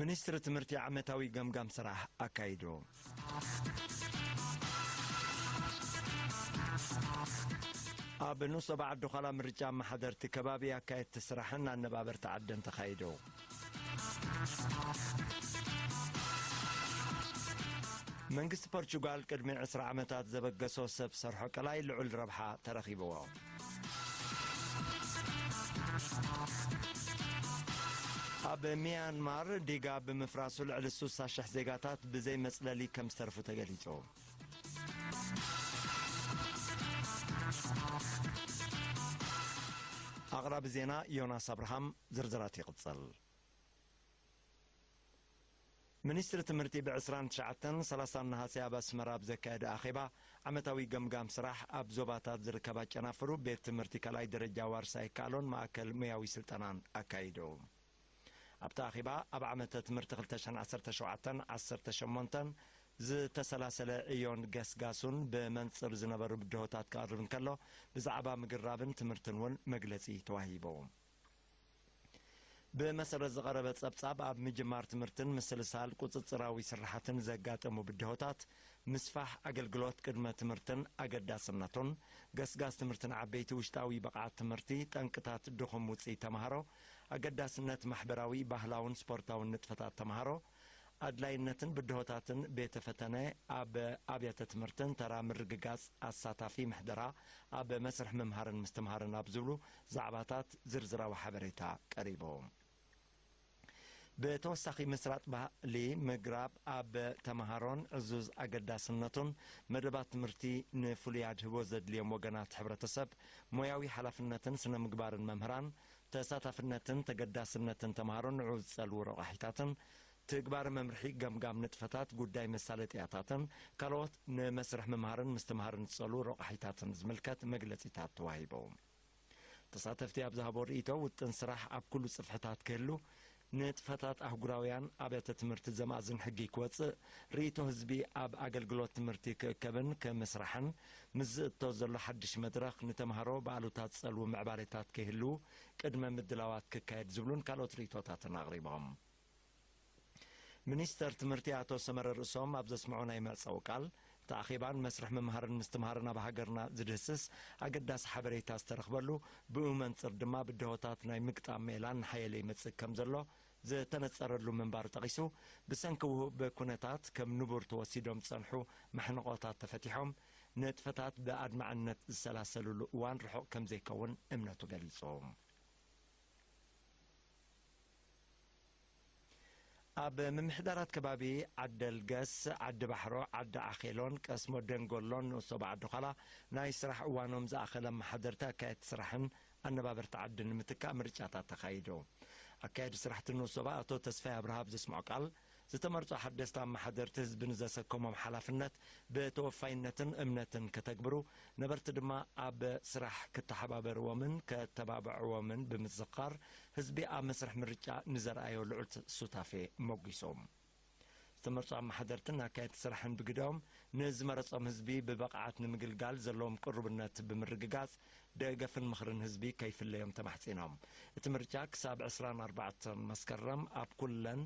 ሚኒስትሪ ትምህርቲ ዓመታዊ ገምጋም ስራሕ ኣካይዱ። ኣብ ኑሶ ባዓል ዱዃላ ምርጫ ኣመሓደርቲ ከባቢ፣ ኣካየድቲ ስራሕን ኣነባበርቲ ዓድን ተኻይዱ። መንግስቲ ፖርቹጋል ቅድሚ ዕስራ ዓመታት ዘበገሶ ሰብ ሰርሖ ቀላይ ልዑል ረብሓ ተረኺብዎ። ኣብ ሚያንማር ዲጋ ብምፍራሱ ልዕሊ ሱሳ ሽሕ ዜጋታት ብዘይ መጽለሊ ከም ዝተርፉ ተገሊጹ። ኣቕራቢ ዜና ዮናስ ኣብርሃም ዝርዝራት ይቕጽል። ሚኒስትሪ ትምህርቲ ብ ዕስራን ትሽዓተን ሰላሳን ነሃሰ ኣብ ኣስመራ ኣብ ዘካየደ ኣኼባ ዓመታዊ ገምጋም ስራሕ ኣብ ዞባታት ዝርከባ ጨናፍሩ ቤት ትምህርቲ ካልኣይ ደረጃ ዋርሳይ ይከኣሎን ማእከል ሞያዊ ስልጠናን ኣካይዱ። ኣብቲ ኣኼባ ኣብ ዓመተ ትምህርቲ ክልተ ሽሕን ዓሰርተ ሸውዓተን ዓሰርተ ሸሞንተን ዝተሰላሰለ ዕዮን ገስጋሱን ብመንጽር ዝነበሩ ብድሆታት ክቐርብ እንከሎ ብዛዕባ ምግራብን ትምህርትን እውን መግለጺ ተዋሂቡ። ብመሰረት ዝቐረበ ጸብጻብ ኣብ ምጅማር ትምህርትን ምስልሳል ቁጽጽራዊ ስርሓትን ዘጋጠሙ ብድሆታት፣ ምስፋሕ ኣገልግሎት ቅድመ ትምህርትን ኣገዳስነቱን፣ ገስጋስ ትምህርትን ዓበይቲ፣ ውሽጣዊ ብቕዓት ትምህርቲ፣ ጠንቅታት ድኹም ውጽኢት ተመሃሮ፣ ኣገዳስነት ማሕበራዊ፣ ባህላውን ስፖርታውን ንጥፈታት ተምሃሮ፣ ኣድላይነትን ብድሆታትን ቤተ ፈተነ ኣብ ኣብያተ ትምህርትን ተራ ምርግጋፅ ኣሳታፊ ምሕደራ ኣብ መስርሕ ምምሃርን ምስትምሃርን ኣብ ዝብሉ ዛዕባታት ዝርዝራዊ ሓበሬታ ቀሪቡ። ብተወሳኺ ምስራጥ ባህሊ ምግራብ ኣብ ተምሃሮን ዕዙዝ ኣገዳስነቱን መደባት ትምህርቲ ንፍሉይ ኣድህቦ ዘድልዮም ወገናት ሕብረተሰብ ሞያዊ ሓላፍነትን ስነ ምግባርን መምህራን ተሳታፍነትን ተገዳስነትን ተምሃሮ ንዑ ዝጸልዉ ረቛሒታትን፣ ትግባረ መምርሒ ገምጋም ንጥፈታት፣ ጉዳይ መሳለጥያታትን ካልኦት ንመስርሕ ምምሃርን ምስትምሃርን ዝጸልዉ ረቛሒታትን ዝምልከት መግለጺታት ተዋሂቡ። ተሳተፍቲ ኣብ ዝሃብዎ ርእይቶ፣ ውጥን ስራሕ ኣብ ኩሉ ጽፍሕታት ክህሉ ንጥፈታት ኣህጉራውያን ኣብያተ ትምህርቲ ዘማእዝን ሕጊ ክወጽእ፣ ርእይቶ ህዝቢ ኣብ ኣገልግሎት ትምህርቲ ክእከብን ክምስራሕን፣ ምስ ዝእቶ ዘሎ ሓድሽ መድረኽ ንተምሃሮ ብኣሉታ ዝጸልዉ ምዕባሌታት ከይህልዉ ቅድመ ምድላዋት ክካየድ ዝብሉን ካልኦት ርእይቶታትን ኣቕሪቦም። ሚኒስተር ትምህርቲ ኣቶ ሰመረ ርእሶም ኣብ ዘስምዖ ናይ መዕጸዊ ቃል፣ እቲ ኣኼባን መስርሕ ምምሃርን ምስትምሃርን ኣብ ሃገርና ዝድህስስ ኣገዳሲ ሓበሬታ ዝተረኽበሉ ብኡ መንፅር ድማ ብደሆታት ናይ ምግጣም ሜላ እናሓየለ ይመፅእ ከም ዘሎ ዝተነፀረሉ ምንባሩ ጠቒሱ ብሰንኪ ውሁብ ኩነታት ከም ንቡር ተወሲዶም ዝፀንሑ መሕንቖታት ተፈቲሖም ንጥፈታት ብኣድማዕነት ዝሰላሰልሉ እዋን ርሑቕ ከም ዘይከውን እምነቱ ገሊፁ። ኣብ ምምሕዳራት ከባቢ ዓደልገስ፣ ዓዲባሕሮ፣ ዓዲ ዓኼሎን ቀስሞ ደንጎሎን ንኡሶብ ዓዲዃላ ናይ ስራሕ እዋኖም ዝኣኸለ ኣመሓደርቲ ኣካየድቲ ስራሕን ኣነባበርቲ ዓድን ንምትካእ ምርጫታት ተኻይዱ። ኣካየዲ ስራሕቲ ንኡሶባ ኣቶ ተስፋይ ኣብርሃ ኣብ ዘስምዖ ቃል፣ ዝተመርጹ ሓደስቲ ኣመሓደርቲ ህዝቢ ንዘሰከሞም ሓላፍነት ብተወፋይነትን እምነትን ከተግብሩ፣ ነበርቲ ድማ ኣብ ስራሕ ክተሓባበርዎምን ከተባብዕዎምን ብምዝኽኻር፣ ህዝቢ ኣብ መስርሕ ምርጫ ንዘርኣዮ ልዑል ሱታፌ ሞጒሱ። ዝተመርጹ ኣመሓደርትን ኣካየድቲ ስራሕን ብግደኦም፣ ንዝመረጾም ህዝቢ ብብቕዓት ንምግልጋል ዘለዎም ቅሩብነት ብምርግጋጽ፣ ደገፍን ምኽርን ህዝቢ ከይፍለዮም ተማሕጺኖም። እቲ ምርጫ ክሳብ ዕስራን ኣርባዕተን መስከረም ኣብ ኩለን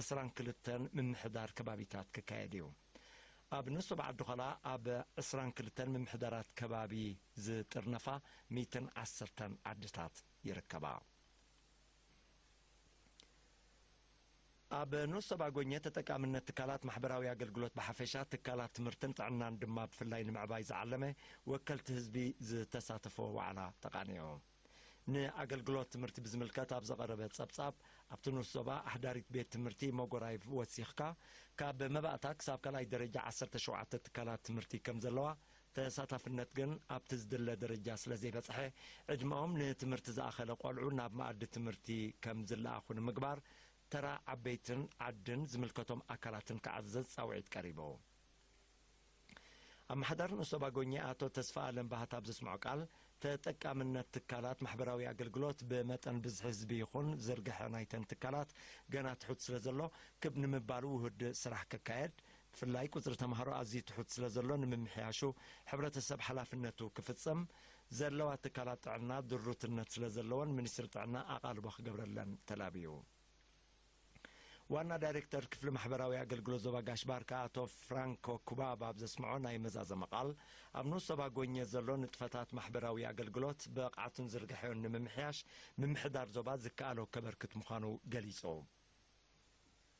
ዕስራን ክልተን ምምሕዳር ከባቢታት ክካየድ እዩ። ኣብ ንሶብ ዓዲ-ዃላ ኣብ ዕስራን ክልተን ምምሕዳራት ከባቢ ዝጥርነፋ ሚእትን ዓሰርተን ዓድታት፣ ይርከባ። ኣብ ንኡስ ዞባ ጎኘ ተጠቃምነት ትካላት ማሕበራዊ ኣገልግሎት ብሓፈሻ ትካላት ትምህርትን ጥዕናን ድማ ብፍላይ ንምዕባይ ዝዓለመ ወከልቲ ህዝቢ ዝተሳተፍዎ ዋዕላ ተቓኒዑ። ንኣገልግሎት ትምህርቲ ብዝምልከት ኣብ ዝቐረበ ፀብፃብ ኣብቲ ንኡስ ዞባ ኣሕዳሪት ቤት ትምህርቲ ሞጎራይቭ ወሲኽካ ካብ መባእታ ክሳብ ካልኣይ ደረጃ ዓሰርተ ሸውዓተ ትካላት ትምህርቲ ከምዘለዋ ተሳታፍነት ግን ኣብቲ ዝድለ ደረጃ ስለ ዘይበጽሐ፣ ዕድመኦም ንትምህርቲ ዝኣኸለ ቆልዑ ናብ መኣዲ ትምህርቲ ከም ዝለኣኹ ንምግባር ተራ ዓበይትን ዓድን ዝምልከቶም ኣካላትን ክዓዘዝ ጻውዒት ቀሪቡ። ኣመሓዳሪ ንኡስ ዞባ ጎኜ ኣቶ ተስፋኣለም ባህታ ኣብ ዘስምዖ ቃል፣ ተጠቃምነት ትካላት ማሕበራዊ ኣገልግሎት ብመጠን ብዝሒ ህዝቢ ይኹን ዝርግሐ ናይተን ትካላት ገና ትሑት ስለ ዘሎ፣ ክብ ንምባሉ ውሁድ ስራሕ ክካየድ፣ ብፍላይ ቁፅሪ ተምሃሮ ኣዝዩ ትሑት ስለዘሎ ንምምሕያሹ ሕብረተሰብ ሓላፍነቱ ክፍፀም ዘለዋ ትካላት ጥዕና ድሩትነት ስለዘለወን ሚኒስትሪ ጥዕና ኣቓልቦ ክገብረለን ተላብዩ። ዋና ዳይሬክተር ክፍሊ ማሕበራዊ ኣገልግሎት ዞባ ጋሽ ባርካ ኣቶ ፍራንኮ ኩባብ ኣብ ዘስምዖ ናይ መዛዘሚ ቃል ኣብ ንኡስ ዞባ ጎኘ ዘሎ ንጥፈታት ማሕበራዊ ኣገልግሎት ብቕዓቱን ዝርግሐኡን ንምምሕያሽ ምምሕዳር ዞባ ዝከኣሎ ከበርክት ምዃኑ ገሊፁ።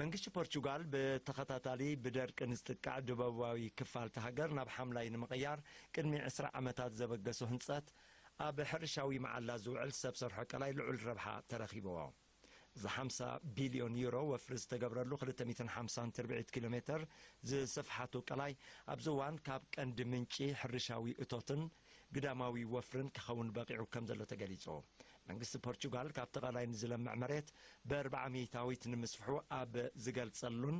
መንግስቲ ፖርቹጋል ብተኸታታሊ ብደርቂ ንዝጥቃዕ ደቡባዊ ክፋል እታ ሃገር ናብ ሓምላይ ንምቕያር ቅድሚ ዕስራ ዓመታት ዘበገሶ ህንፀት ኣብ ሕርሻዊ መዓላ ዝውዕል ሰብ ሰርሖ ቀላይ ልዑል ረብሓ ተረኺቡዎ። እዚ ሓምሳ ቢልዮን ዩሮ ወፍሪ ዝተገብረሉ ክልተ ሚእትን ሓምሳን ትርብዒት ኪሎ ሜተር ዝስፍሓቱ ቀላይ ኣብዚ እዋን ካብ ቀንዲ ምንጪ ሕርሻዊ እቶትን ግዳማዊ ወፍርን ክኸውን በቒዑ ከም ዘሎ ተገሊጹ። መንግስቲ ፖርቹጋል ካብቲ ቀላይ ንዝለምዕ መሬት ብእርብዓ ሚእታዊት ንምስፍሑ ኣብ ዝገልጸሉን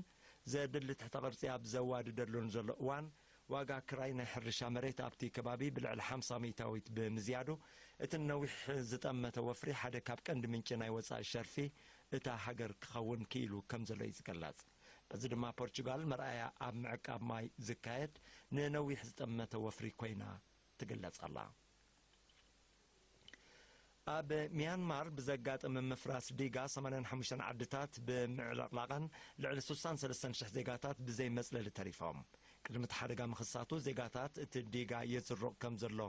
ዘድሊ ትሕተ ቅርጺ ኣብ ዘዋድደሉን ዘሎ እዋን ዋጋ ክራይ ናይ ሕርሻ መሬት ኣብቲ ከባቢ ብልዕሊ ሓምሳ ሚእታዊት ብምዝያዱ እቲ ንነዊሕ ዝጠመተ ወፍሪ ሓደ ካብ ቀንዲ ምንጪ ናይ ወጻኢ ሸርፊ እታ ሃገር ክኸውን ክኢሉ ከም ዘሎ እዩ ዝግለጽ። በዚ ድማ ፖርቹጋል መርኣያ ኣብ ምዕቃብ ማይ ዝካየድ ንነዊሕ ዝጠመተ ወፍሪ ኮይና ትግለጽ ኣላ። ኣብ ሚያንማር ብዘጋጠመ ምፍራስ ዲጋ 85 ዓድታት ብምዕልቕላቐን ልዕሊ 63 ሽሕ ዜጋታት ብዘይ መጽለሊ ተሪፎም። ቅድሚ እቲ ሓደጋ ምኽሳቱ ዜጋታት እቲ ዲጋ የዝርቕ ከም ዘሎ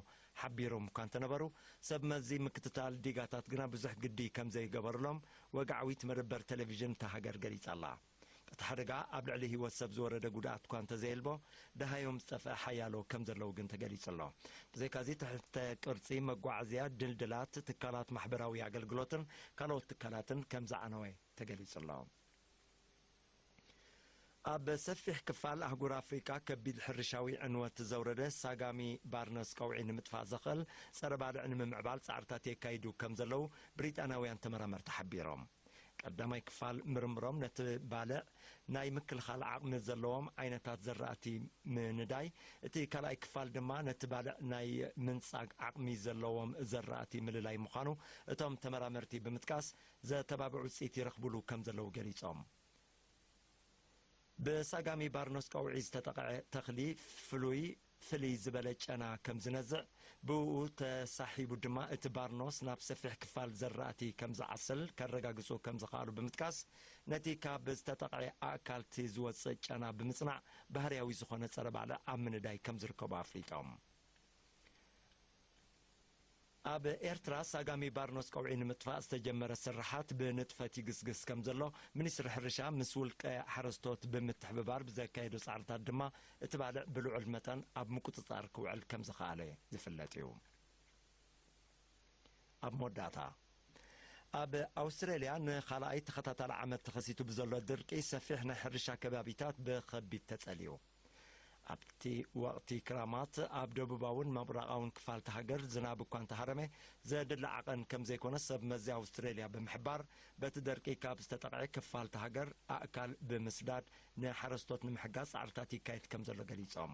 ሓቢሮም እኳ እንተነበሩ፣ ሰብ መዚ ምክትታል ዲጋታት ግና ብዙሕ ግዲ ከም ዘይገበሩሎም ወግዓዊት መደበር ተለቪዥን እታ ሃገር ገሊጻ ኣላ። እቲ ሓደጋ ኣብ ልዕሊ ህይወት ሰብ ዝወረደ ጉድኣት እኳ እንተዘየልቦ፣ ደሃዮም ዝጠፍኣ ሓያሎ ከም ዘለዉ ግን ተገሊጹ ኣሎ። ብዘይካዚ ትሕተ ቅርጺ፣ መጓዓዝያ፣ ድልድላት፣ ትካላት ማሕበራዊ ኣገልግሎትን ካልኦት ትካላትን ከም ዝዓነወ ተገሊጹ ኣሎ። ኣብ ሰፊሕ ክፋል ኣህጉር ኣፍሪቃ ከቢድ ሕርሻዊ ዕንወት ዘውረደ ሳጋሚ ባርነስ ቀውዒ ንምጥፋእ ዘኽእል ጸረ ባልዕ ንምምዕባል ጻዕርታት የካይዱ ከም ዘለዉ ብሪጣንያውያን ተመራመርቲ ሓቢሮም። ቀዳማይ ክፋል ምርምሮም ነቲ ባልዕ ናይ ምክልኻል ዓቕሚ ዘለዎም ዓይነታት ዘራእቲ ምንዳይ፣ እቲ ካልኣይ ክፋል ድማ ነቲ ባልዕ ናይ ምንጻግ ዓቕሚ ዘለዎም ዘራእቲ ምልላይ ምዃኑ እቶም ተመራመርቲ ብምጥቃስ፣ ዘተባብዕ ውፅኢት ይረኽቡሉ ከምዘለዉ ገሊፆም። ብሳጋሚ ባርኖስ ቀውዒ ዝተጠቐዐ ተኽሊ ፍሉይ ፍልይ ዝበለ ጨና ከምዝነዝዕ ብእኡ ተሳሒቡ ድማ እቲ ባርኖስ ናብ ሰፊሕ ክፋል ዘራእቲ ከምዝዓስል ከረጋግፁ ከምዝኸኣሉ ብምጥቃስ ነቲ ካብ ዝተጠቕዐ ኣእካልቲ ዝወፅእ ጨና ብምፅናዕ ባህርያዊ ዝኾነ ፀረ ባዕሊ ኣብ ምንዳይ ከምዝርከቡ ኣፍሊጦም። ኣብ ኤርትራ ሳጋሚ ባርኖስ ቀውዒ ንምጥፋእ ዝተጀመረ ስርሓት ብንጥፈት ይግስግስ ከምዘሎ ሚኒስትሪ ሕርሻ ምስ ውልቀ ሓረስቶት ብምትሕብባር ብዘካየዶ ፃዕርታት ድማ እቲ ባልዕ ብልዑል መጠን ኣብ ምቁፅፃር ክውዕል ከምዝኸኣለ ዝፍለጥ እዩ። ኣብ መወዳእታ ኣብ ኣውስትራሊያ ንኻልኣይ ተኸታታሊ ዓመት ተኸሲቱ ብዘሎ ድርቂ ሰፊሕ ናይ ሕርሻ ከባቢታት ብኸቢድ ተፀልዩ። ኣብቲ ወቕቲ ክራማት ኣብ ደቡባውን ምብራቓውን ክፋል እታ ሃገር ዝናብ እኳ እንተሃረመ ዘድሊ ዓቐን ከም ዘይኮነ ሰብ መዚ ኣውስትሬልያ ብምሕባር፣ በቲ ደርቂ ካብ ዝተጠቕዔ ክፋል እታ ሃገር ኣእካል ብምስዳድ ንሓረስቶት ንምሕጋዝ ጻዕርታት ይካየድ ከም ዘሎ ገሊጾም።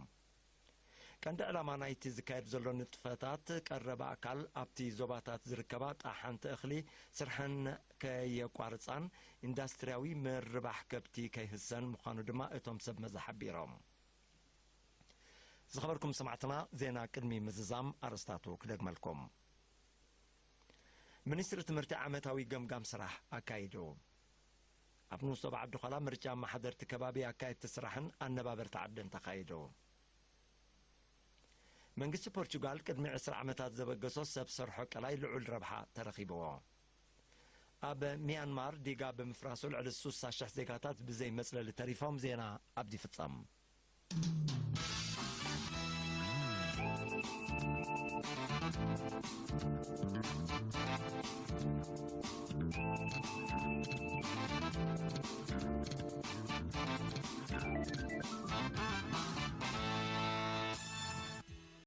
ቀንዲ ዕላማ ናይቲ ዝካየድ ዘሎ ንጥፈታት ቀረብ ኣእካል ኣብቲ ዞባታት ዝርከባ ጠሓንቲ እኽሊ ስርሐን፣ ከየቋርፃን ኢንዳስትሪያዊ ምርባሕ ከብቲ ከይህሰን ምዃኑ ድማ እቶም ሰብ መዚ ሓቢሮም። ዝኸበርኩም ሰማዕትና ዜና ቅድሚ ምዝዛም ኣርእስታቱ ክደግመልኩም። ሚኒስትሪ ትምህርቲ ዓመታዊ ገምጋም ስራሕ ኣካይዱ። ኣብ ንኡስ ዞባ ዓዲዃላ ምርጫ ኣመሓደርቲ ከባቢ ኣካየድቲ ስራሕን ኣነባበርቲ ዓድን ተኻይዱ። መንግስቲ ፖርቹጋል ቅድሚ ዕስራ ዓመታት ዘበገሶ ሰብ ሰርሖ ቀላይ ልዑል ረብሓ ተረኺብዎ። ኣብ ሚያንማር ዲጋ ብምፍራሱ ልዕሊ ሱሳ ሽሕ ዜጋታት ብዘይ መጽለሊ ተሪፎም ዜና ኣብዲ ፍጸም።